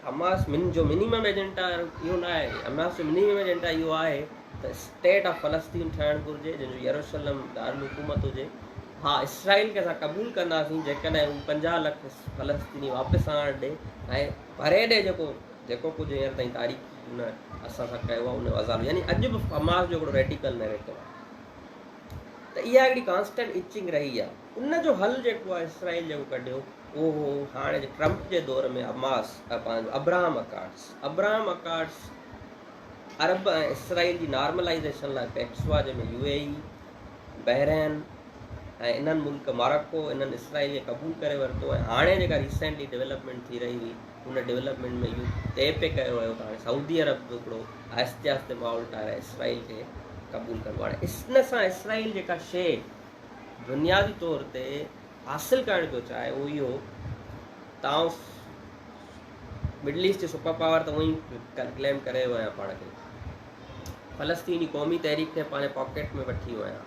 حماس من جو منيمم ايجنڊا اهو نه آهي حماس جو منيمم ايجنڊا اهو آهي ته اسٽيٽ آف فلسطين ٺهڻ گهرجي جنهن جو يروشلم دارالحڪومت هجي ها اسرائيل کي اسان قبول ڪنداسين جيڪڏهن هو پنجاهه لک فلسطيني واپس آڻڻ ڏي ۽ ڀري ڏي جيڪو جيڪو ڪجهه هينئر تائين تاريخ هن اسان سان ڪيو آهي ان جو عذاب يعني اڄ به حماس جو هڪڙو ريڊيڪل نيريٽو آهي ته اها هڪڙي ڪانسٽنٽ اچنگ رهي آهي ان جو حل جيڪو آهي اسرائيل جيڪو ڪڍيو اهو هو هاڻي جي ٽرمپ جي دور ۾ حماس پنهنجو ابراهام اڪارڊس ابراهام اڪارڊس عرب ۽ اسرائيل جي نارملائزيشن لاء پيڪس هئا جنهن ۾ يو اي اي بحرين ۽ انهن ملڪ مارڪو انهن اسرائيل کي قبول ڪري ورتو ۽ هاڻي جيڪا ريسنٽلي ڊيولپمنٽ ٿي رهي هئي ان ڊولپمينٽ ۾ اهو طئي پئي ڪيو ويو ته هاڻي سعودي عرب به هڪڙو آهستي آهستي ماحول ٺاهرائي اسرائيل کي قبول ڪندو هاڻي ان سان اسرائيل جيڪا شيء بنيادي طور تي حاصل ڪرڻ پيو چاهي اهو اهو تاؤ مڊل ايسٽ جي سپر پاور ته اونئي ڪليم ڪري ويو آهيان پاڻ کي فلسطين جي قومي تحريڪ کي پنهنجي پاڪيٽ ۾ وٺي ويو آهيان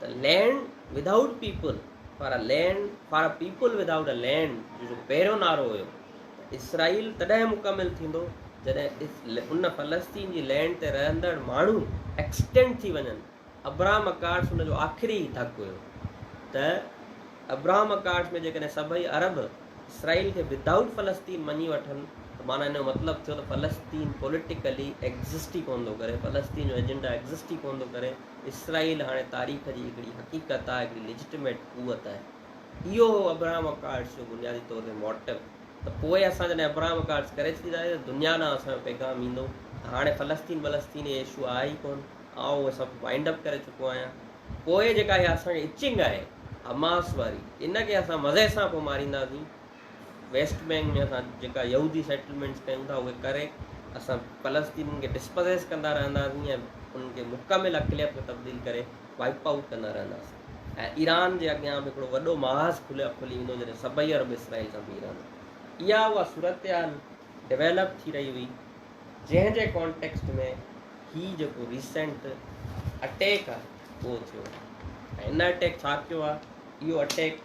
ته land without people for a land for a people without a land جو جو پهريون نعرو هيو ته اسرائيل تڏهن مڪمل ٿيندو جڏهن ان فلسطين جي لينڊ تي رهندڙ ماڻهو ايڪسٽينڊ ٿي وڃن ابراهم اڪارس ان جو آخري ڌڪ هيو ته ابراهم اڪارس ۾ جيڪڏهن سڀئي عرب اسرائيل کي وڌ آئوٽ فلسطين مڃي وٺن ته معنی ان جو مطلب ٿيو ته فلسطين پوليٽيڪلي ايگزسٽ ئي ڪونه ٿو ڪري فلسطين جو ايجنڊا ايگزسٽ ئي ڪونه ٿو ڪري اسرائيل هاڻي تاريخ جي هڪڙي حقيقت آهي، هڪڙي ليجٽميٽ قوت آهي. اهو هو ابراهم اڪارڊس جو بنيادي طور تي موٽو ته پوء اسان جڏهن ابراهم اڪارڊس ڪري ڇڏينداسين ته دنيا ڏانهن اسان جو پيغام ايندو ته هاڻي فلسطين بلسطين اهي اشو آهي ئي ڪونه، آء اهي سڀ وائنڊ اپ ڪري چڪو آهيان. پوء جيڪا اها اسان کي اچنگ آهي حماس واري ان کي اسان مزي سان پوء مارينداسين. ويسٽ بينڪ ۾ اسان جيڪا يهودي سيٽلمينٽس ڪيون ٿا اهي ڪري اسان فلسطينين کي ڊسپزيس ڪندا رهنداسين ۽ انهن کي مڪمل اقليت ۾ تبديل ڪري وائپ آئوٽ ڪندا رهنداسين ۽ ايران جي اڳيان به هڪڙو وڏو محاذ کلي کلي ويندو جڏهن سڀئي عرب اسرائيل سان بيهي رهندا اها اها صورتحال ڊويلپ ٿي رهي هئي جنهن جي ڪانٽيڪسٽ ۾ هي جيڪو ريسنٽ اٽيڪ آهي اهو ٿيو ۽ ان اٽيڪ ڇا ڪيو آهي اهو اٽيڪ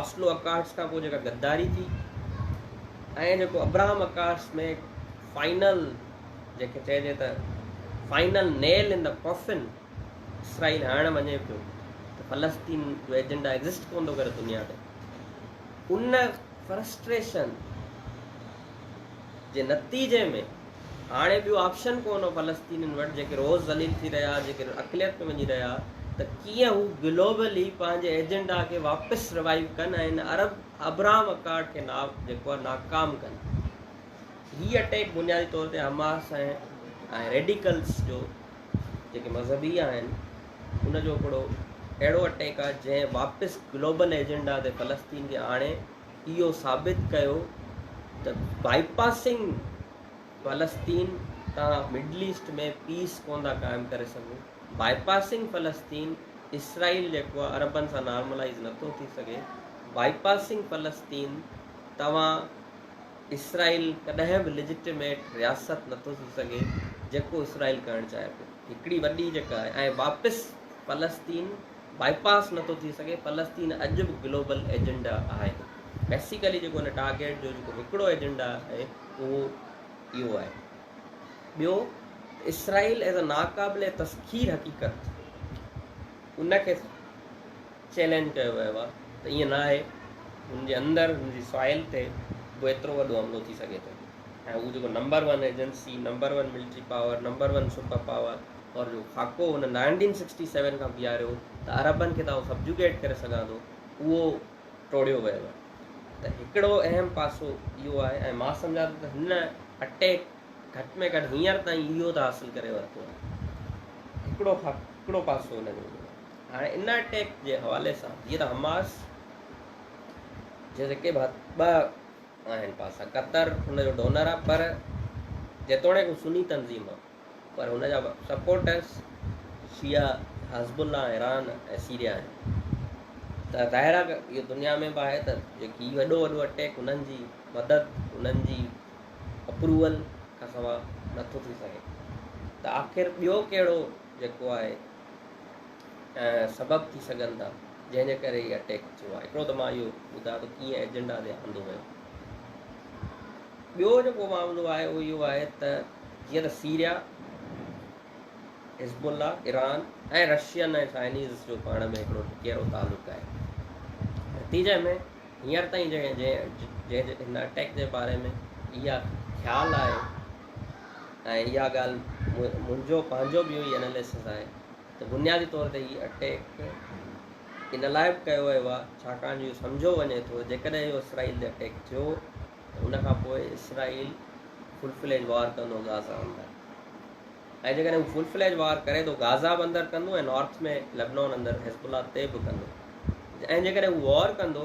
آسلو اڪارڊس کان پوء جيڪا غداري ٿي ۽ جيڪو ابراهام اڪارڊس ۾ فائنل جنهنکي چئجي ته final nail in coffin Israel هڻڻ وڃي پيو ته فلسطين جو ايجنڊا ايگزسٽ ڪون ٿو ڪري دنيا تي ان فرسٽريشن جي نتيجي ۾ هاڻي ٻيو آپشن ڪو نه فلسطينين وٽ جيڪي روز ذليل ٿي رهيا جيڪي اقليت ۾ وڃي رهيا ته ڪيئن هو گلوبلي پنهنجي ايجنڊا کي واپس روائيو ڪن ۽ ان عرب ابرام اڪارڊ کي نا جيڪو آهي ناڪام ڪن هي اٽيڪ بنيادي طور تي حماس ۽ ۽ ريڊيڪلس جو جيڪي مذهبي آهن ان جو هڪڙو اهڙو اٽيڪ آهي جنهن واپس گلوبل ايجنڊا تي فلسطين کي آڻي اهو ثابت ڪيو ته بائي پاسنگ فلسطين تان مڊل ايسٽ ۾ پيس ڪونه ٿا قائم ڪري سگهون، بائي پاسنگ فلسطين اسرائيل جيڪو آهي عربن سان نارملائيز نه ٿو ٿي سگهي، بائي پاسنگ فلسطين توهان اسرائيل ڪڏهن به ليجٽميٽ رياست نه ٿو ٿي سگهي جيڪو اسرائيل ڪرڻ چاهي ٿو هڪڙي وڏي جيڪا آهي ۽ واپس فلسطين بائي پاس نٿو ٿي سگهي، فلسطين اڄ به گلوبل ايجنڊا آهي، بيسيڪلي جيڪو ان ٽارگيٽ جو جيڪو هڪڙو ايجنڊا آهي اهو اهو آهي. ٻيو ته اسرائيل ايز اي ناقابل تسخير حقيقت ان کي چئلينج ڪيو ويو آهي ته ائين نه آهي، هن جي اندر هن جي سوائل تي به ايترو وڏو حملو ٿي سگهي ٿو ۽ هو جيڪو number one agency, number one military power, number one super power اور جو خاڪو هن نائنٽين سڪسٽي سيون کان بيهاريو ته عربن کي تان سبجوگيٽ ڪري سگهان ٿو اهو ٽوڙيو ويو آهي ته هڪڙو اهم پاسو اهو آهي ۽ مان سمجهان ٿو ته هن اٽيڪ گهٽ ۾ گهٽ هينئر تائين اهو ته حاصل ڪري ورتو آهي هڪڙو هڪڙو پاسو هن جو هاڻي ان اٽيڪ جي حوالي سان جيئن ته حماس جيڪي ٻه آهن پاسا قطر ان جو ڊونر آهي پر جيتوڻيڪ سني تنظيم آهي پر هن جا سپورٽرز شيعا حزب الله ايران ۽ سيريا آهن ته ظاهر آهي اهو دنيا ۾ به آهي ته جيڪي وڏو وڏو اٽيڪ انهن جي مدد انهن جي اپروول کان سوا نٿو ٿي سگهي ته آخر ٻيو ڪهڙو جيڪو آهي سبب ٿي سگهن ٿا جنهن جي ڪري اٽيڪ ٿيو آهي هڪڙو ته مان اهو ٻڌايو ته ڪيئن ايجنڊا تي آندو ويو ٻيو جيڪو معاملو آهي اهو اهو آهي ته جيئن ته Syria, Hezbollah, Iran ۽ Russian ۽ Chinese جو پاڻ ۾ هڪڙو ڪيرو تعلق آهي. نتيجي ۾ هينئر تائين جنهن جنهن هن اٽيڪ جي باري ۾ اها خيال آهي ۽ اها ڳالهه منهنجو پنهنجو به اهو ئي اناليسز آهي ته بنيادي طور تي هي اٽيڪ ان لاء به ڪيو ويو آهي ڇاڪاڻ جو اهو سمجهيو وڃي ٿو جيڪڏهن اهو اسرائيل تي اٽيڪ ٿيو ان کان پوء اسرائيل فل فليج وار ڪندو غازا اندر ۽ جيڪڏهن هو فل فليج وار ڪري ٿو غازا به اندر ڪندو ۽ نارٿ ۾ لبنان اندر حزب الله تي به ڪندو ۽ جيڪڏهن هو وار ڪندو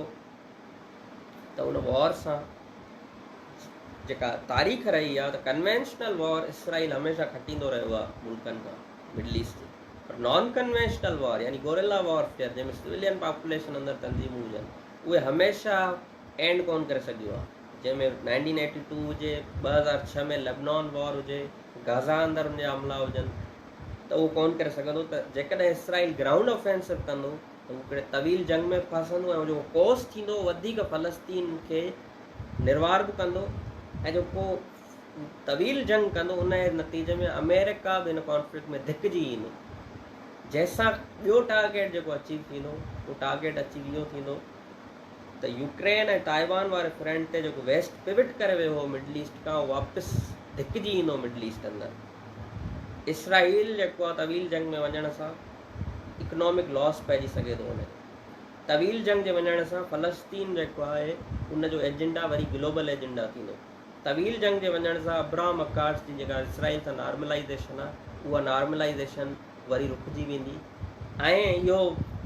ته ان وار سان جيڪا تاريخ رهي آهي ته ڪنوينشنل وار اسرائيل هميشه کٽيندو رهيو آهي ملڪن کان مڊل ايسٽ جي پر نان ڪنوينشنل وار يعني گوريلا وارفيئر جنهن ۾ سويلين پاپوليشن اندر تنظيمون هجن اهي هميشه اينڊ ڪونه ڪري سگهيو آهي جنهن ۾ نائنٽين ايٽي ٽو هجي ٻه هزار ڇهه ۾ لبنان وار هجي غزا اندر ان جا حملا هجن ته اهو ڪونه ڪري سگهندو ته جيڪڏهن اسرائيل گرائونڊ آفينسو ڪندو ته هو هڪڙي طويل جنگ ۾ ڦاسندو ۽ جو ڪوس ٿيندو وڌيڪ فلسطين کي نروار به ڪندو ۽ جو ڪو طويل جنگ ڪندو ان جي نتيجي ۾ آمريڪا به هن ڪانفلڪٽ ۾ ڌڪجي ايندو جنهن سان ٻيو ٽارگيٽ جيڪو اچيو ٿيندو اهو ٽارگيٽ اچيو اهو ٿيندو ته يوڪرين ۽ تائيوان واري فرنٽ تي جيڪو ويسٽ پوٽ ڪري ويو هو مڊل ايسٽ کان اهو واپس ڌڪجي ايندو مڊل ايسٽ اندر اسرائيل جيڪو آهي طويل جنگ ۾ وڃڻ سان اڪنامڪ لاس پئجي سگهي ٿو ان طويل جنگ جي وڃڻ سان فلسطين جيڪو آهي ان جو ايجنڊا وري گلوبل ايجنڊا ٿيندو طويل جنگ جي وڃڻ سان ابراهام اڪارس جي جيڪا اسرائيل سان نارملائيزيشن آهي اها نارملائيزيشن وري رڪجي ويندي ۽ اهو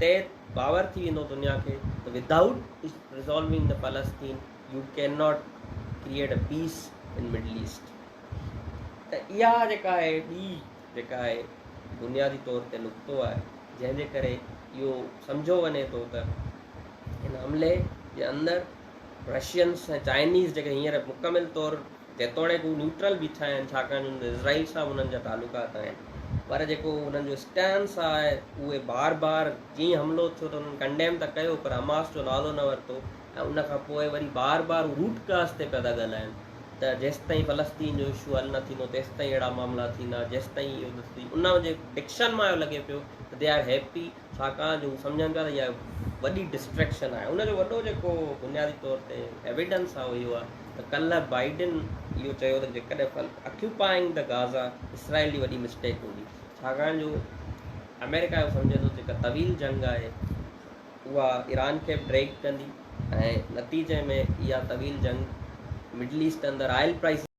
طئي باور ٿي ويندو دنيا کي ته without resolving the Palestine you can not create a peace in Middle East ته اها جيڪا آهي ٻي جيڪا آهي بنيادي طور تي نقطو آهي جنهن جي ڪري اهو سمجهو وڃي ٿو ته هن حملي جي اندر رشينس ۽ چائنيز جيڪي هينئر مڪمل طور جيتوڻيڪ هو نيوٽرل بيٺا آهن ڇاڪاڻ جو اسرائيل سان به انهن جا تعلقات آهن پر جيڪو انهن جو اسٽينس آهي اهي بار بار جئين حملو ٿيو ته انهن ڪنڊيم ته ڪيو پر حماس جو نالو نه ورتو ۽ ان کان پوء وري بار بار هو روٽ ڪاز تي پيا ٿا ڳالهائن ته جيستائين فلسطين جو اشو حل نه ٿيندو تيستائين اهڙا معاملا ٿيندا جيستائين ان جي ڊڪشن مان اهو لڳي پيو ته دي آر هيپي ڇاڪاڻ جو هو سمجهن پيا ته اها وڏي ڊسٽريڪشن آهي ان جو وڏو جيڪو بنيادي طور تي ايويڊنس آهي اهو آهي ته ڪلهه بائيڊن اهو چيو ته جيڪڏهن اڪيوپائنگ د غازا اسرائيل جي وڏي مسٽيڪ هوندي ڇاڪاڻ جو آمريڪا اهو سمجهي ٿو جيڪا طويل جنگ آهي اها ايران کي به ڊريگ ڪندي ۽ نتيجي ۾ اها طويل جنگ مڊل ايسٽ اندر آئل پرائسز